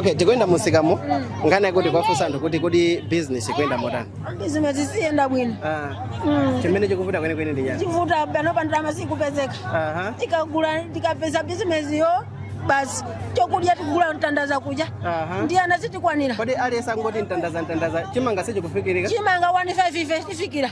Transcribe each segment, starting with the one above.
okay tikuyenda musikamo nkhani yakuti kwafunsa anthu kuti kuti business ikuyenda motani bizinesi sikuyenda bwino Ah, Mm. chimene chikuvuta kwenikweni ndi chani chikuvuta panopa ndalama sikupezeka Aha. tikagula tikapeza bizinesiyo basi chokudya tikugula mtandaza kudya Aha. ndiye ana sitikwanira kodi aliyense angoti mtandaza mtandaza chimanga sichikufikirika chimanga 15 ife tifikira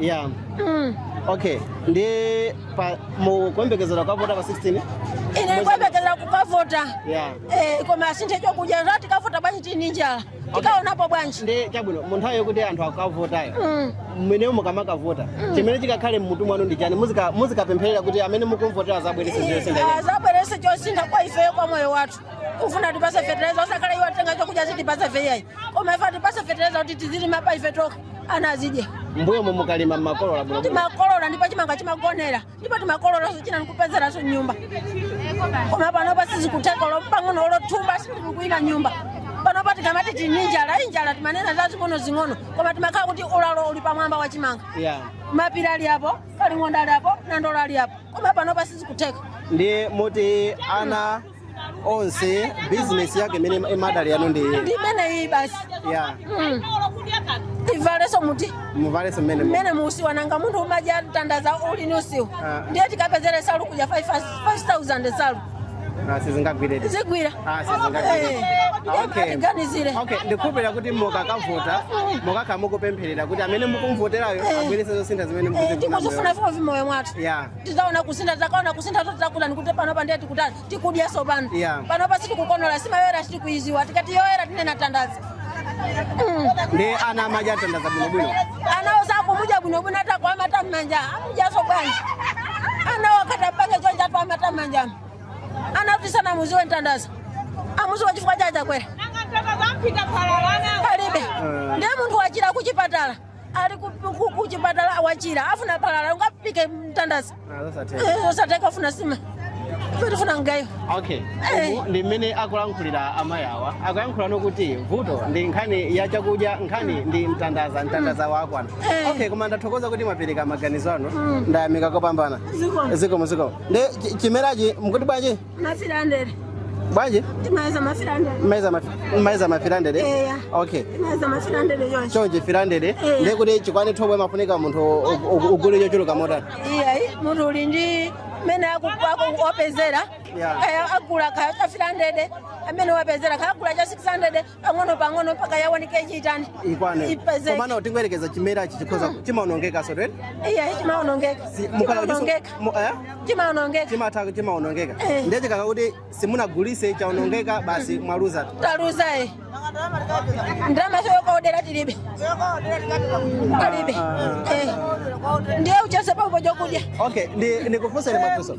ya Mm. okay ndi pa mukuyembekezera kukavota pa 16 ine ndikuyembekeza kukavota ya Eh, koma asinthe chokudya nanga tikavota bwanji tini njala tikaonapo bwanji ndi chabwino mu nthawi yokuti anthu akavotayo Mm. imeneyo mukamakavota chimene chikakhale mmutu mwanu ndi chani Muzika- muzikapempherera kuti amene mukumvotera azabwerese zosintha azabwerese chosintha kwa ifeyo kwa moyo wathu tifuna atipase fetereza osakhala iwo atenga chokudya azitipasa ife ayi koma ife atipase fetereza kuti tizilima pa ife tokha ana azidye mbuyomu mukalima mmakolola bwino timakolola ndipo chimanga chimagonera ndipo timakololanso china ndikupezeraso nyumba koma panopa sizikutheka olo pang'ono olo thumba silikuwina nyumba panopa tikamati tini njala njala timanena za zing'ono zing'ono koma timakhala kuti ulalo uli pamwamba wa chimanga yeah. mapira ali apo kalongonda ali apo nandola ali apo koma panopa sizikutheka ndiye moti ana onse business yake imene imadalilidwa ndi inu ndi ndi imeneyi basi ya Mm. tivaleso muti muvalenso mmene mmene mu usiwa nanga munthu umadya mtandaza uli ni usiwa Ah. ndiye tikapezere nsalu kuja 5000 nsalu Ah, sizingagwiredi zigwira Ah, sizingagwiredi Ah, okay. tiganizire okay ndikhulupirira kuti mukakavota mukakhala mukupempherera kuti amene mukumvoterayo abweretse zosintha zimene mukuzifuna tikuzifuna m'mo- m'moyo mwathu ya tizaona kusintha tizakaona kusintha to tizakutani kuti panopa ndiye tikutani tikudya sopano Yeah. panopa sitikukonola nsima yoyera sitikuiziwa tikati yoyera tinena mtandaza ndi ana amadya mtandaza bwinobwino anawo sakumudya bwinobwino nanga wamata mmanja amudyaso bwanji anawo akatapange chonchi wamata mmanjamo anakuti sana muziwe mtandaza amuziwa chifukwa cha chakudya palibe ndiye munthu wachira kuchipatala ali ku- ku- kuchipatala awachira afuna phala ungaphike mtandaza Eh, osatheka afuna nsima afuna mgaiwa okay Eh. Umu ndi mmene akulankhulira amayi awa akuyankhula kuti vuto ndi nkhani ya chakudya nkhani ndi mtandaza mtandaza wakwana Eh. okay koma ndathokoza kuti mwapereka maganizo anu ndayamika kopambana Zikomo. zikomo zikomo ndi chi- chimerachi mukuti bwanji mafilandere bwanji timayeza mafilandere mmayeza mafi- mmayeza mafilandere Eya. okay timayeza mafilandere chonchi chonchi filandere Eya. ndekuti chikwane thobwa mafunika munthu u- u- ugule chochuluka motani iyayi munthu uli ndi mmene akupezera Yeah. kaya agula kaya cha 300 amene wapezera kaya agula cha 600 pang'ono pang'ono mpaka yaoneke ichiitani ikwane ipezeke komano tingoyerekeza chimerachi chikhoza chimaonongeka so right iya chimaonongeka chimaonongeka chimaonongeka chimatha chimaonongeka Eh. ndiye chikakhala kuti simunagulise chaonongeka basi mwaluza taluza e ndalama yokaodera tilibe palibe Eh. ndiye uchotse pompo chokudya okay ndikufunseni mafunso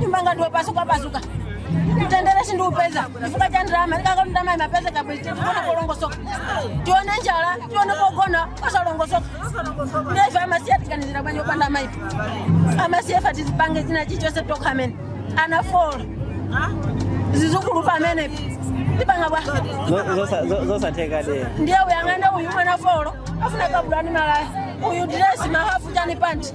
nyumba yanga ndi yo pasuka pasuka mtendere sindikuupeza chifukwa cha ndirama ndikanakhala ndirama ndimapeza bwezi tikugona polongosoka tione njala tione pogona osalongosoka nde ife amasiye atiganizira bwanji opanda maipo amasiye ife tizipange zina chichonse tokha amene ana four zizukulu pomwe tipanga bwa zosatheka de ndiye uyang'ane uyu mwamuna four afuna kabudula malaya uyu diresi mahafu chani panti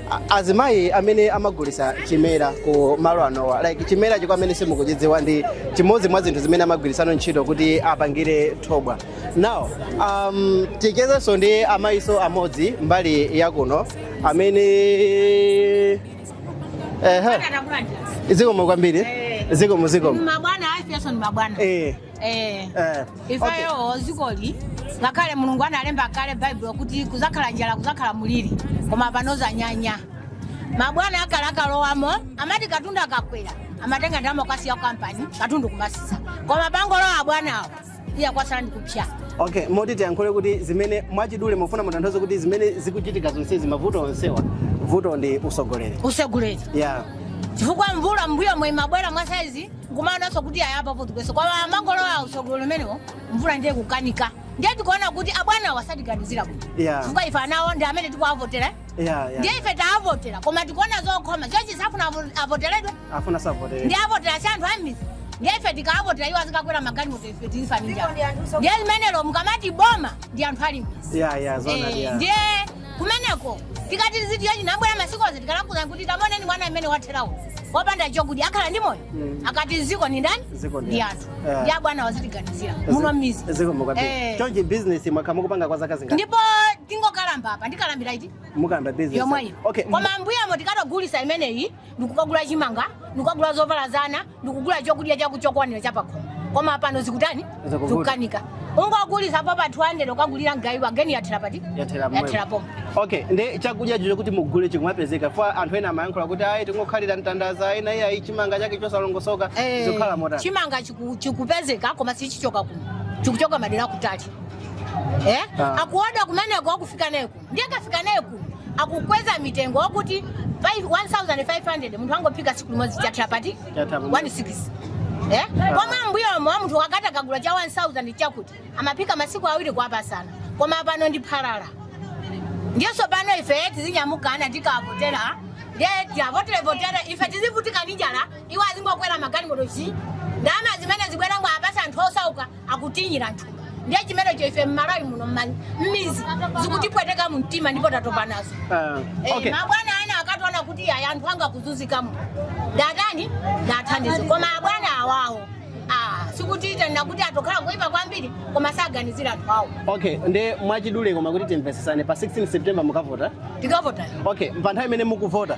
A- azimayi amene amagulisa chimera ku malo anowa like chimera kwa amene simukuchidziwa ndi chimodzi mwa zinthu zimene amagwirisa ntchito kuti apangire thobwa now um, tichezenso ndi amayi enaso amodzi mbali yakuno amene ehe zikomo kwambiri zikomo zikomo mabwana afikaso ni mabwana eh Eh. Eh, okay. ifeyo dzikoli ngakhale mulungu analemba kale baibulo kuti kuzakhala njala kuzakhala muliri koma pano zanyanya mabwana akale akalowamo amati katundu akakwera amatenga ndalama kupasa ma kampani katundu kumasisa koma pongolowa abwanawo iya kwasala ndikupsa okay moti tiyankhule kuti zimene mwachidule mufuna mutanthauze kuti zimene zikuchitika zonsezi mavuto onsewa vuto ndi usogoleri usogoleri yeah chifukwa mvula mbuyomu imabwera mwa saizi kumaonanso kuti ayi apa pano mwangolowa usogolo umenewo mvula ndiye kukanika ndiye tikuona kuti abwanawo sakutiganizira kuti Yeah. chifukwa ife abwanawo ndi amene tikuwavotera eh? Yeah, yeah. ndiye ife taavotera koma tikuona zokhoma chochi safuna avo- avoteredwe afuna tisavotere nde avotera si anthu ammidzi ndiye ife tikaavotera iwo azikakwera magalimoto ife tikufa ndi njala ndiye limenelo mukamati boma ndi anthu ali mmidzi ya ya zona Eh, ya ndiye kumeneko tikati tizidya chinangwa masiku onse tikawauza kuti tamuoneni mwana amene watheratu wopanda chokudya akhala ndi moyo Mm. akati dziko ni ndani Dziko ndi ndi anthu. anthu Yeah. nde abwanawa azitiganizira muno mmidzi dziko mukati Eh. chonchi business mwakhala mukupanga kwa zaka zingati ndipo tingokalamba apa tikalambira iti mukamba business yomweyo okay koma mbuyomo tikangogulisa imeneyi ndikukagula chimanga ndikukagula zovala za ana ndikugula chokudya chaku chokwanira chapakhomo koma pano zikutani Zikuvuta. zikukanika ungogulisa pa pa 200 ukagulira mgaiwa geni yathera pati Yathera pomwepo. yathera pomwe okay ndi chakudya choti mugule chikumapezeka poti anthu ena amayankhula kuti ayi tingokhalira mtandaza ena iya ayi chimanga chake chosalongosoka Eh, zikukhala motani chimanga chiku- chikupezeka koma sichichoka kuno chikuchoka madera akutali eh? Ah. akuoda kumeneko akufika neko ndiye kafika naye ku akukweza mitengo wakuti 5 1500 munthu angophika tsiku limodzi chathira pati Chathera pa- 16 eh koma mbuyomo wa munthu akati akagula cha 1000 chakuti amaphika masiku awiri kuwapasana koma pano ndi phalala ndiye sopano ife tizinyamukana tikavotera ndiye tiwavoterevotera ife tizivutika ndi njala iwo azingokwera magalimoto chi ndalama zimene zibwera ngoapasa anthu osauka akutinyira anthu ndiye chimenecho ife mmalawi muno mma- mmidzi zikutipweteka mumtima ndipo tatopa nazo Ah, Eh, okay. mabwana ena akatoona kuti aya anthu anga akuzunzikamo ndatani ndathandize koma abwana awawo ah, sikuti tanena kuti atokhala kuipa kwambiri koma saganizira anthu awo okay nde mwachidule koma kuti timvetsetsane pa 16 september mukavota tikavota okay pa nthawi imene mukuvota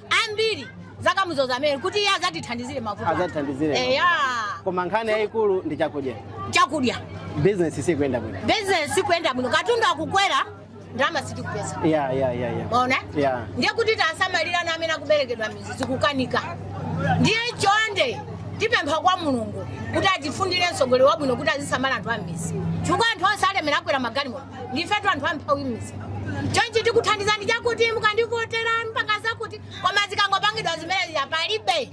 ambiri akamudzoza amene kuti iye azatithandizire mavuto athu. Azatithandizire mavuto. eya koma nkhani yayikulu ndi chakudya chakudya bizinesi sikuyenda bwino business sikuyenda bwino katundu akukwera ndalama sitikupeza ya ya ya ya maona Yeah. ndiye kuti tasamalira ana amene akuberekedwa mmidzi zikukanika ndiye chonde tipempha kwa mulungu kuti atifunire mtsogoleri wabwino kuti azisamala anthu a mmidzi chifukwa anthu onse olemera akwera magalimoto ndifetu anthu amphawi mmidzi chonchi tikuthandizani chakuti mukandivotera mpaka zakuti koma zikangopangidwa zimene zija palibe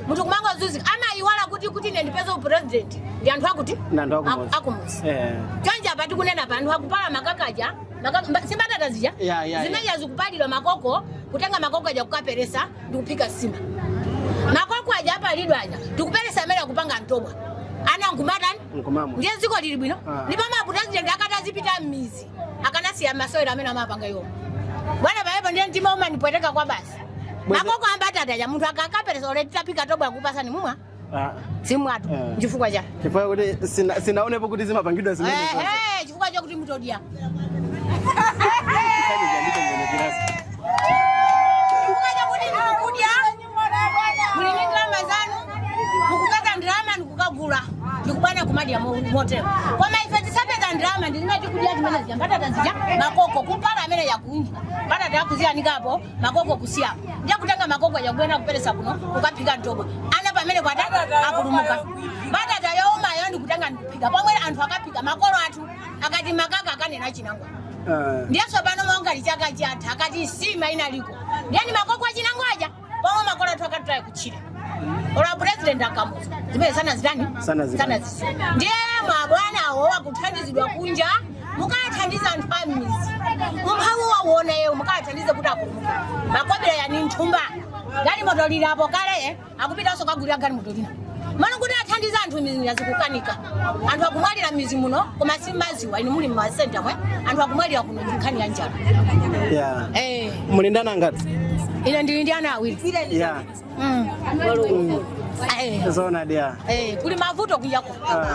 munthu kumangozunzika amayiwala kuti kuti ine ndipeze upresident ndi anthu akuti Nanthu akumudzi. akumudzi Eh. chonchi apa tikunena pa anthu akupala makakaja maka- mba- si mbatata zija Ya, ya, ya. zimene zija zikupalidwa makoko kutenga makoko aja kukaperesa ndi kuphika nsima makoko aja apalidwa aja ndikuperesa amene akupanga thobwa ana nkumatani nkumamwa ndiye dziko lili bwino Ah. ndipo mapresident akati azipita m'midzi akanasiya masewero amene amapanga iwo bwana pa air po ndiye mtima umanipweteka kwabasi Bwana- makoko a mbatata aja munthu akakaperesa olo titaphika thobwa kupasani mumwa Ah, sindimwatu Eh. chifukwa cha chifukwa kuti sina- sinaonepo kuti zimapangidwa Eh, zimene eh, chifukwa chakuti mutodya muli ndi ndalama zanu mukupeza ndalama ndikukagula ndikubwera kumadya mo- motero koma ife osapeza ndalama ndi amene tikudya zimene zija mbatata zija makoko kupala amene yakunja mbatata yakuziyanikapo makoko kusiyapo ndiye kutenga makoko aja kubwera kuperesa kuno kukaphika thobwa ana pamene kwata apulumuka mbatata youmayo ndikutenga ndikuphika pomwe anthu akaphika makolo athu akati makaka akanena chinangwa ndiye tsopano monga chaka chatha akati nsima inaliko ndiye ni makoko achinangwa aja pomwe makolo athu akataya kutchire olo a president akamuza zimene sanazitani Sanazitani. sanazisa ndiye mabwanawo wakuthandizidwa kunja mukathandiza anthu a mmidzi umphawi awuona iwo mukathandize kuti akumuka makobera yani mthumba galimoto ilipo kale eh? akupitanso kagulira galimoto lina m'malo kuti athandize anthu m'mizimu yazikukanika anthu akumwalira m'mizi muno koma simuziwa inu muli m'masenta mwe anthu akumwalira kuno ndi nkhani ya njala Yeah. eh, Muli ndi ana angati? ine ndili ndi ana awiri Yeah. Mm. Eh, Zona dia. eh, kuli mavuto kujako Ah.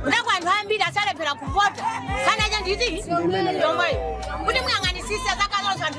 kunako anthu ambiri asalephera kuvota kana chandizi chomweyo kuti muyang'anisisa zakazonso anthu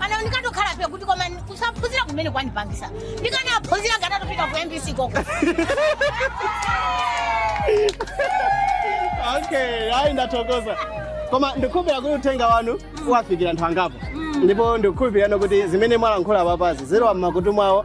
ana ndikatokhala phe kuti koma kusaphunzira kumene kwandipangisa ndikanaphunzira nkatapita ku mbc koko okay hayi ndathokoza koma ndikukhulupirira kuti uthenga wanu uwafikira anthu angapo ndipo ndikukhulupirira kuti zimene mwalankhula apapazi zilowa m'makutu mwawo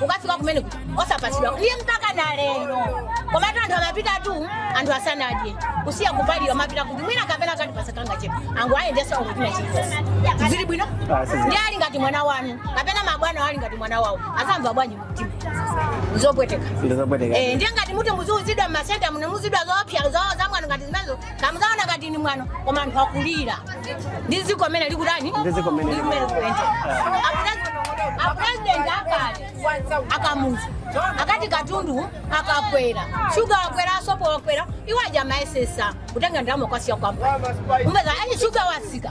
ukafika kumeneku osapatsidwa ndiye mpaka na lero komatu anthu amapita tu anthu asanadye kusiya kupalira amapita kuti mwina kapena akati pasako kangachepe angu ayendesa ukutina chilichonse zili bwino Ah, sizili. ndiye ali ngati mwana wanu kapena mabwana ali ngati mwana wawo azamva bwanji mtima zopweteka ndizopweteka Eh, ndiye ngati muti muziuzidwa mmasenta muno muuzidwa zoopsa zo zamwano ngati zimenezo kankaoneka ngati ni mwano koma anthu akulira ndi dziko mene likutani Ndi dziko mene Ndi mene likuyenda. A- a president akale akamuza akati katundu akakwera shuga wakwera sopo wakwera iwo aja amayesesa kutenga ndalama kwasiya kwamba umbeza ayi shuga watsika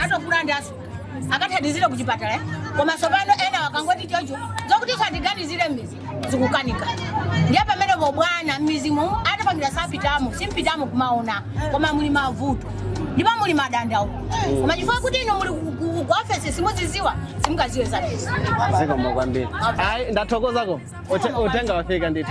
atokulanda aso akathandizire kuchipatala eh? koma aso pano enawa akangoti chocho zokuti satiganizire mmizi zikukanika ndiye pamenepo bwana mmizimu atapangira sapitamo simpitamo kumaona koma muli mavuto ndipo muli madandaulo koma chifukwa kuti inu muli ku- ku- ku ofesi simuziziwa simukaziwe zabisi zikomo kwambiri ayi ndathokozako Ote- uthenga wafika ndithu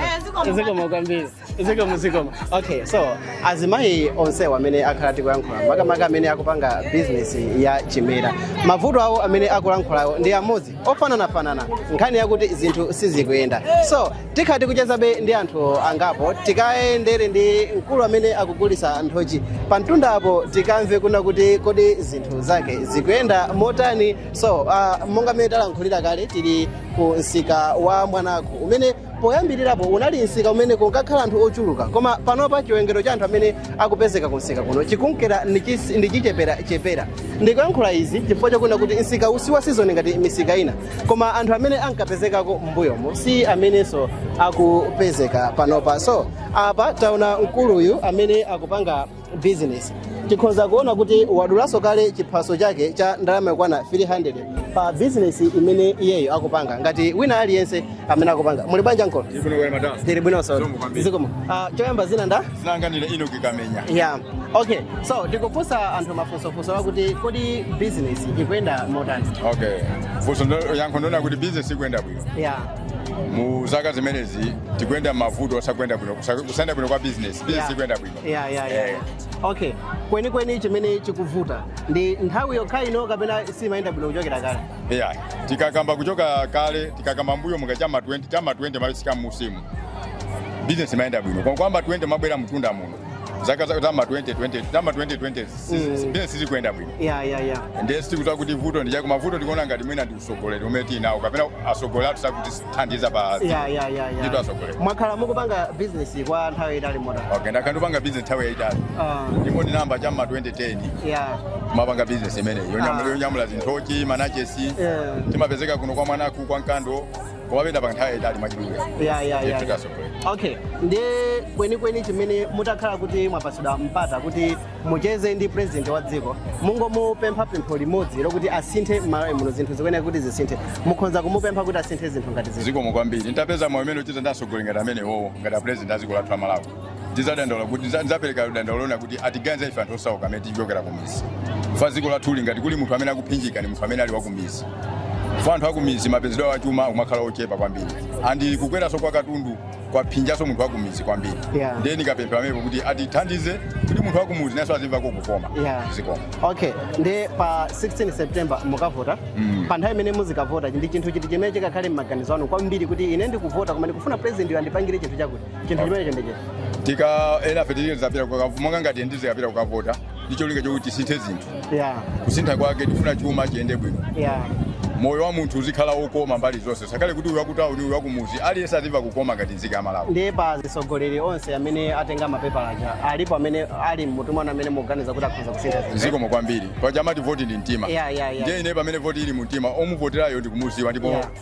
zikomo kwambiri zikomo zikomo okay so azimayi onse amene takhala tikuyankhula makamaka amene akupanga bizinesi ya chimera mavuto awo amene akulankhulawo ndi amodzi ofananafanana nkhani yakuti zinthu sizikuyenda so tikhala tikuchezabe ndi anthu angapo tikayendere ndi mkulu amene akugulitsa nthochi pa mtunda apo tikamve kunena kuti kodi zinthu zake zikuyenda motani so uh, monga mmene talankhulira kale tili ku msika wa mwanaku umene Poyambirirapo unali msika umene kunkakhala anthu ochuluka koma panopa chiwerengero cha anthu amene akupezeka kumsika kuno chikunkera nichis- nichicheperachepera. Ndikuyankhula izi chifukwa chakunena kuti msikawu si wa sizoni ngati misika ina koma anthu amene ankapezekako m'mbuyomo si amenenso akupezeka panopa. So apa taona mkuluyu amene akupanga business tikhonza kuona kuti wadulanso kale chiphaso chake cha ndalama yokwana 300 pa business imene iyeyo akupanga ngati wina aliyense amene akupanga muli banja nkolo tili bwinonso zikomo Ah, choyamba zina nda zinanganira ino kikamenya yeah okay so tikufunsa anthu mafunsofunso akuti kodi business ikuyenda motani okay funso ndo- yankho ndona kuti bizinesi ikuyenda bwino yeah mu zaka zimenezi tikuyenda mavuto osakwenda bwino kusa- kusayenda bwino kwa bizinesi bizinesi Yeah. ikuyenda bwino yeah, yeah, yeah. Eh. okay kwenikweni chimene chikuvuta ndi nthawi yokha ino kapena simayenda bwino kuchokera kale yeah. tikakamba kuchoka kale tikakamba mbuyo muka chama 20 chama 20 malisika musi mu business imayenda bwino koma kuyamba 20 kumabwera mtunda muno zaka za chama 2020 chama 2020 business sizikuyenda bwino yeah yeah yeah ndiye sitikudziwa kuti vuto ndi chani koma vuto ndikuona ngati mwina ndi usogoleri umene tili nawo kapena asogoleri athu sakuti thandiza pa ya dziko. ya ya ya Ndithu atsogoleri. mwakhala mukupanga bizinesi kwa nthawi yaitali motani Okay, ndakhala ndikupanga business nthawi yaitali. Ah, Ndipo ndinayamba cha ma 2010 ya kumapanga business imeneyi yonyamula Ah. yonyamula zinthochi manachesi Eh. timapezeka kuno kwa mwanaku kwa Nkando kumapenda pa nthawi yaitali mwachidule. ya ya ya Ndithu ya. atsogoleri. okay ndiye kwenikweni chimene mutakhala kuti mwapatsidwa mpata kuti mucheze ndi president wa dziko mungomupempha pempho limodzi lokuti asinthe m'malawi muno zinthu zikuyenera kuti zisinthe mukhonza kumupempha kuti asinthe zinthu ngati ziti zikomo kwambiri nditapeza mwayi umenewo ocheza ndi atsogoleri ngati amenewowo ngati apresident a dziko lathu la malawi ndizadandaula kuti ndiza- ndizapereka dandaulo lona kuti atiganze ife anthu osauka amene tichokera kumizi chifukwa dziko lathuli ngati kuli munthu amene akuphinjika ndi munthu amene ali wakumizi chifukwa anthu akumizi mapezedwe awo achuma amakhala ochepa kwambiri andi kukweranso kwa katundu kwaphinjaso munthu wakumidzi kwambiri yeah. ndiye ndikapempha pamenepo kuti atithandize kuti munthu wakumudzi nayeso azimvako kukoma yeah. zikomo okay ndiye pa 16 september mukavota mm. pa nthawi imene muzikavota ndi chinthu chiti chimene chikakhale m'maganizo anu kwambiri kuti ine ndikuvota koma ndikufuna presidentyo andipangire chinthu chakuti chinthu chimenecho ndi chiti tikanena feteleza pita monga ngati ndizikapita kukavota ndi cholinga chokuti tisinthe zinthu yeah, kusintha kwake tifuna chuma chiyende bwino yeah. moyo wa munthu uzikhala wokoma mbali zonse zisakhale kuti uyu wakutauni uyu wakumuzi aliyense azimva kukoma ngati nzika ya malawi ndiye pa atsogoleri onse amene atenga mapepala aja alipo amene ali mmutu mwanu amene mukuganiza kuti akhoza kusintha zinthu zikomo kwambiri paja amati voti ndi mtima Yeah, yeah, yeah. ndiye ine pamene voti ili mu mtima omuvoterayo ndikumuziwa ndipo Yeah.